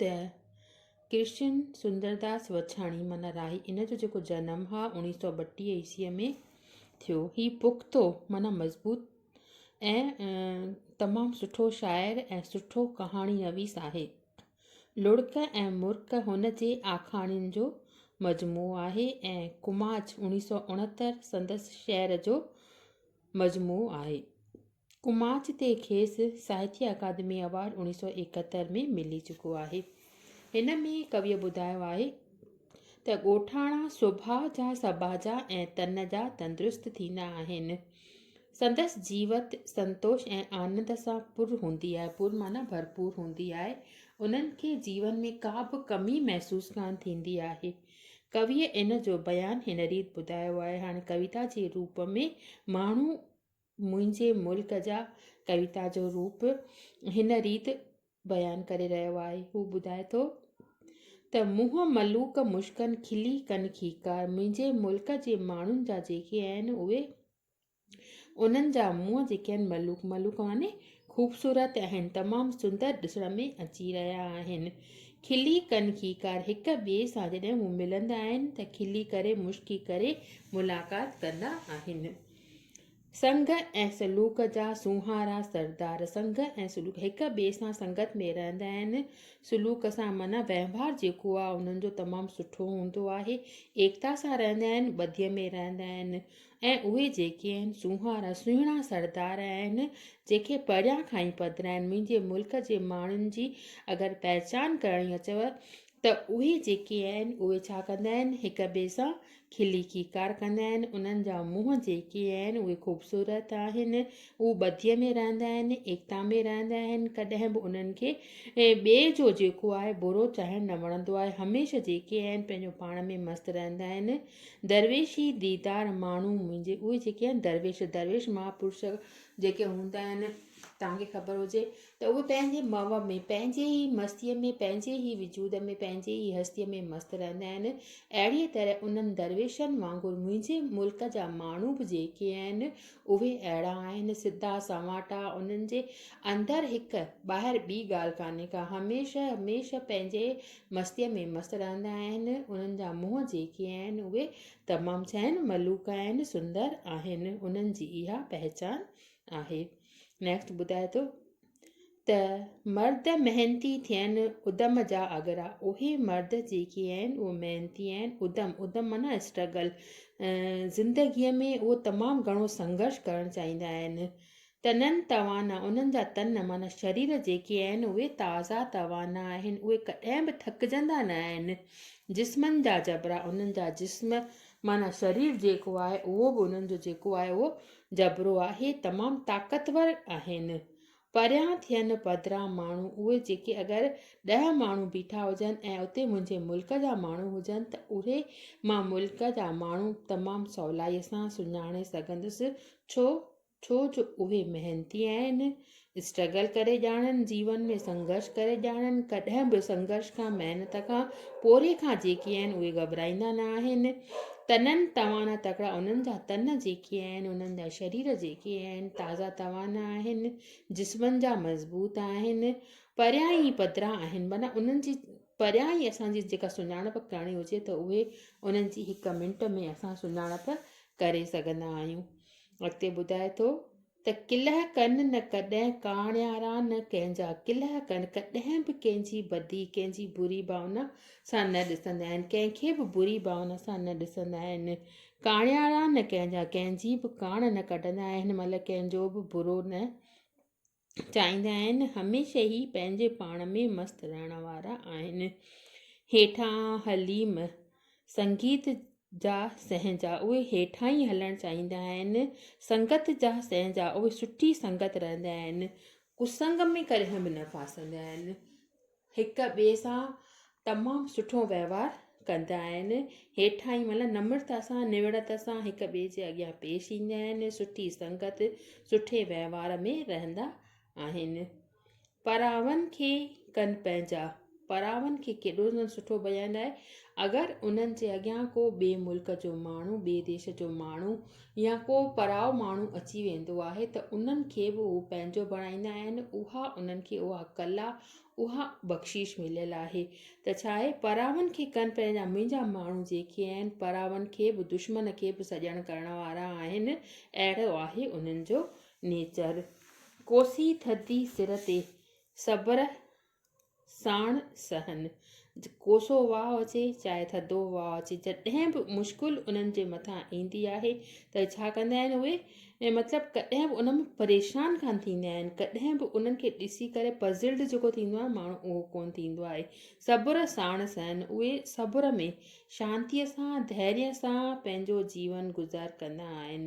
ته ڪرشن سندرداس وڇاڻي معنيٰ راهي ان جو جيڪو جنم هاء اوڻيهه سؤ ٻٽيهه عيسويء ۾ ٿيو. هي پختو معنيٰ مضبوط ۽ تمام سٺو شاعر ۽ سٺو ڪهاڻي نويس آهي. لڙڪ ۽ مرڪ هن جي آکاڻين جو مجموعو آهي ۽ ڪماچ اوڻيهه سؤ اڻهتر سندس شعر جو مجموعو آهي. ڪماچ تي کيس ساهتيه اڪادمي ايوارڊ اوڻيهه سؤ ايڪهتر ۾ ملي چڪو آهي. هن ۾ ڪويء ٻڌايو آهي ته ڳوٺاڻا سڀاء جا سٻاجها ۽ تن جا تندرست ٿيندا آهن. سندس جيوت سنتوش ۽ آنند سان پر هوندي آهي، پر معنيٰ ڀرپور هوندي آهي. انهن کي جيون ۾ ڪا به ڪمي محسوس ڪانه ٿيندي آهي. ڪويء ان جو بيان هن ريت ٻڌايو آهي، هاڻي ڪويتا جي روپ ۾ ماڻهو منهنجي ملڪ جا ڪويتا جو روپ هن ريت بيان ڪري رهيو آهي. هو ٻڌائي ٿو ته منهن ملوڪ مشڪن کلي ڪن کيڪار منهنجي ملڪ جي ماڻهن جا جيڪي آهن اهي انهن جا منهن جيڪي آهن ملوڪ ملوڪ معني خوبصورت آهن تمام سندر ڏسڻ ۾ اچي رهيا آهن کلي ڪن کيڪار هڪ ٻئي سان جڏهن هو ملندا آهن ته کلي ڪري مشڪي ڪري ملاقات ڪندا آهن سنگ ۽ سلوڪ جا سونهارا سردار، سنگ ۽ سلوڪ هڪ ٻئي سان سنگت ۾ رهندا آهن، سلوڪ سان معنيٰ وهنوار جيڪو آهي انهن جو تمام سٺو هوندو آهي، ايڪتا سان رهندا آهن، ٻڌيء ۾ رهندا آهن ۽ اهي جيڪي آهن سونهارا سهڻا سردار آهن جنهن کي پريان کان ئي پڌراين، منهنجي ملڪ جي ماڻهن جي اگر پهچان ڪرڻي اچيو ته اهي جيڪي آهن اهي ڇا ڪندا آهن هڪ ٻئي سان کلي کيڪار ڪندا آهن انهن جا منهن جيڪي آهن اهي خوبصورت آهن اهو ٻڌيء ۾ رهندا آهن ايڪتا ۾ رهندا آهن ڪڏهن به انهن کي ٻئي جو جيڪو آهي برو چاهڻ نه وڻندو آهي هميشه جيڪي آهن پنهنجو پاڻ ۾ مست رهندا آهن درويشي ديدار ماڻهو منهنجي اهي جيڪي آهن درويش درويش مهاپرش جيڪي هوندا آهن تهانکي خبر هجي ته اهي پنهنجي مئو ۾ پنهنجي ئي مستيء ۾ پنهنجي ئي وجود ۾ پنهنجي ئي هستيء ۾ مست رهندا آهن، اهڙيء طرح انهن درويشن وانگر منهنجي ملڪ جا ماڻهو به جيڪي آهن، اهي اهڙا آهن، سڌا، سنواٽا، انهن جي اندر هڪ، ٻاهر ٻي ڳالهه ڪانهي ڪا، هميشه هميشه پنهنجي مستيء ۾ مست رهندا آهن، انهن جا منهن جيڪي آهن، اهي تمام چهن، ملوڪ آهن، سندر آهن، انهن جي اها پهچان آهي. نيڪسٽ ٻڌائي ٿو ته مرد محنتي ٿين ادم جا اگرا اهي مرد جيڪي آهن اهي محنتي آهن ادم ادم معنيٰ اسٽرگل زندگيء ۾ اهو تمام گهڻو سنگهرش ڪرڻ چاهيندا آهن تنن توانا انهن جا تن معنيٰ شرير جيڪي آهن اهي تازا توانا آهن اهي ڪڏهن به ٿڪجندا نه آهن جسمن جا جبرا انهن جا جسم معنيٰ شرير جيڪو آهي اهو به انهن جو جيڪو آهي اهو جبرو آهي تمام طاقتور آهن پريان ٿين پڌران ماڻهو اهي جيڪي اگر ڏهه ماڻهو بيٺا هجن ۽ اتي منهنجي ملڪ جا ماڻهو هجن ته اهي مان ملڪ جا ماڻهو تمام سولائي سان سڃاڻي سگهندس ڇو ڇو جو اهي محنتي آهن اسٽرگل ڪري ڄاڻن، جيون ۾ سنگهرش ڪري ڄاڻن، ڪڏهن به سنگهرش کان، محنت کان، پورهيي کان جيڪي آهن اهي گهٻرائيندا نه آهن، تنن توانا تڪڙا انهن جا تن جيڪي آهن، انهن جا شرير جيڪي آهن تازا توانا آهن، جسمن جا مضبوط آهن، پريان ئي پڌرا آهن معنيٰ انهن جي پريان ئي اسان جي جيڪا سڃاڻپ ڪرڻي هجي ته اهي انهن جي هڪ منٽ ۾ اسان سڃاڻپ ڪري سگهندا آهيون. اڳتي ٻڌائي ٿو. ته ڪلهه ڪن نه ڪڏهن ڪاڻيارا نه ڪنهن جا ڪلهه ڪن ڪڏهن به ڪنهن جي بدي ڪنهن جي بري ڀاونا سان نه ڏسندا آهن ڪنهن کي به بري ڀاونا سان نه ڏسندا آهن ڪاڻيارا نه ڪنهن جا ڪنهن جي به ڪاڻ نه ڪڍندا آهن مطلب ڪنهن جو به برو نه چاهيندا آهن هميشه ئي پنهنجي پاڻ ۾ مست رهڻ وارا آهن هيٺان حليم سنگيت جا سهنجا اهي هيٺاهين هلڻ چاهيندا آهن سنگت جا سهنجا اهي سٺي سنگت رهندا آهن ڪسنگ ۾ ڪڏهن به نه ڦاسندا آهن هڪ ٻئي سان تمام سٺو وهنوار ڪندا آهن هيٺاهين معنيٰ نمرتا سان نوڙت سان هڪ ٻئي جي اڳيان پيش ايندا آهن سٺي سنگت سٺي وهنوار ۾ رهندا آهن پراون کي ڪن پنهنجا. پراون کي ڪيڏو نه سٺو بيان آهي. اگر انهن جي اڳيان ڪو ٻئي ملڪ جو ماڻهو، ٻئي ديش جو ماڻهو يا ڪو پراو ماڻهو اچي ويندو آهي ته انهن کي به هو پنهنجو بڻائيندا آهن، اها انهن کي اها ڪلا، اها بخشيش مليل آهي ته ڇا آهي، پراون کي ڪن پنهنجا منهنجا ماڻهو جيڪي آهن، پراون کي به دشمن کي به سڄڻ ڪرڻ وارا آهن، اهڙو آهي انهن جو نيچر، ڪوسي ٿڌي سر تي صبر ساڻ سهن، ڪوسو واء اچي چاهي ٿڌو واء اچي، جڏهن به مشڪل انهن جي مٿان ايندي آهي ته ڇا ڪندا آهن اهي؟ مطلب ڪڏهن به انهن ۾ پريشان ڪانه ٿيندا آهن، ڪڏهن به انهن کي ڏسي ڪري پزلڊ جيڪو ٿيندو آهي ماڻهو اهو ڪونه ٿيندو آهي. صبر ساڻ سهن، اهي صبر ۾ شانتيء سان، ڌيريء سان پنهنجو جيون گذار ڪندا آهن.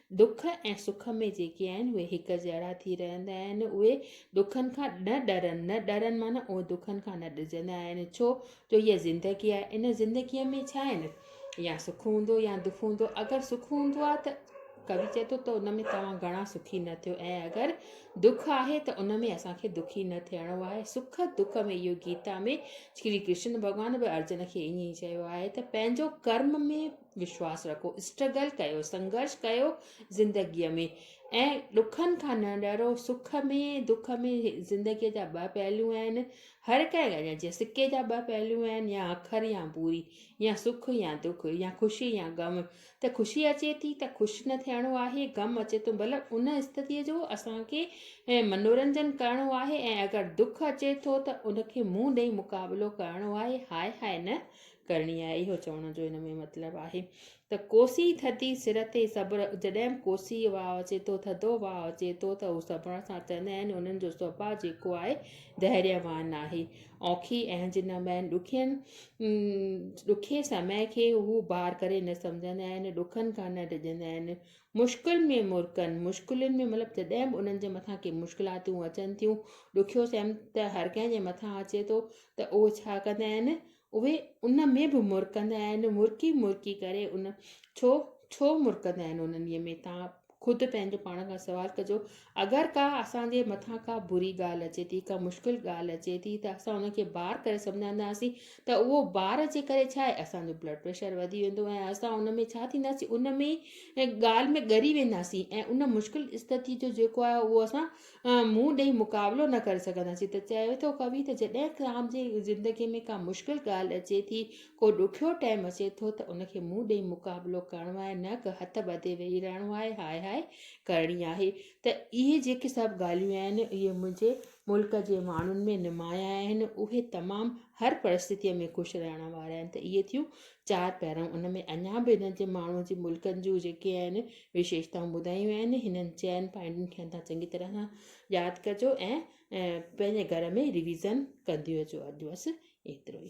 دک ۽ سک ۾ جيڪي آهن اهي هڪ جهڙا ٿي رهندا آهن. اهي دکن کان نه ڏرن، نه ڏرن معنيٰ اهي دکن کان نه ڊڄندا آهن. ڇو جو اها زندگي آهي. ان زندگيء ۾ ڇا آهن؟ يا سک هوندو يا دک هوندو. اگر سک هوندو آهي ته ڪوي چئي ٿو ته ان ۾ توهان گهڻا سکي نه ٿيو ۽ اگر دک آهي ته ان ۾ اسان کي دکي نه ٿيڻو آهي. سک دک ۾ اهو گيتا ۾ شري ڪرشن ڀڳوان به ارجن کي ائين ئي چيو آهي ته پنهنجو ڪرم ۾ وشواس رکو اسٽرگل ڪيو سنگرش ڪيو زندگيء ۾ ۽ ڏکن کان نه ڏرو سک ۾ دک ۾ زندگيء جا ٻه پهلو آهن هر ڪنهن جي سڪي جا ٻه پهلو آهن يا اکر يا بوري يا سک يا دک يا خوشي يا غم ته خوشي اچي ٿي ته خوش نه ٿيڻو آهي غم اچي ٿو بل ان استديء جو اسانکي منورنجن ڪرڻو آهي ۽ اگر دک اچي ٿو ته ان کي منهن ڏئي مقابلو ڪرڻو آهي هاء هاء نه ڪرڻي آهي اهو چوڻ جو ان ۾ مطلب آهي ته ڪوسي ٿڌي سر تي صبر جڏهن به ڪوسي واء اچي ٿو ٿڌو واء اچي ٿو ته هو صبر سان چوندا آهن انهن جو سڀاء جيڪو آهي دهريء وان آهي اوکي اهنج جن مئن ڏکين ڏکي سمي کي هو بار ڪري نه سمجهندا آهن ڏکن کان نه ڊڄندا آهن مشڪل ۾ مرڪن مشڪلين ۾ مطلب جڏهن به انهن جي مٿان ڪي مشڪلاتون اچن ٿيون ڏکيو سيم ته هر ڪنهن جي مٿان اچي ٿو ته اهو ڇا ڪندا آهن اهي ان ۾ به مرڪندا آهن، مرڪي مرڪي ڪري ان ڇو ڇو مرڪندا آهن انهيء ۾ تان خود پنهنجو پاڻ کان سوال ڪجو اگر ڪا اسان جي مٿان ڪا بري ڳالهه اچي ٿي ڪا مشڪل ڳالهه اچي ٿي ته اسان ان کي بار ڪري سمجهنداسين ته اهو بار جي ڪري ڇا آهي اسانجو بلڊ پريشر وڌي ويندو ۽ اسان ان ۾ ڇا ٿينداسين ان ۾ ڳالهه ۾ ڳري وينداسين ۽ ان مشڪل استتي جو جيڪو آهي اهو اسان مون ڏيئي مقابلو نه ڪري سگهندا سين ته چوي ٿو ڪوي ته جڏهن توهان جي زندگي ۾ ڪا مشڪل ڳالهه اچي ٿي ڪو ڏکيو ٽيم اچي ٿو ته ان کي مون ڏيئي مقابلو ڪرڻو آهي نه ڪه هٿ ٻڌي ويهي رهڻو آهي هاء هاء ڪرڻي آهي ته اهي جيڪي سڀ ڳالهيون آهن اهي منهنجي ملڪ جي ماڻهن ۾ نمايان آهن اهي تمام هر پرستتيء ۾ خوش رهڻ وارا آهن ته اهي ٿيون چار پهرون ان ۾ اڃا به هن جي ماڻهو جي ملڪن جون جيڪي آهن وشيشتائون ٻڌايون آهن هنن چئن پوائنٽن کي تان چڱي طرح سان ياد ڪجو ۽ پنهنجي گهر ۾ ريويزن ڪنديون اچو اڄ بس ايترو ئي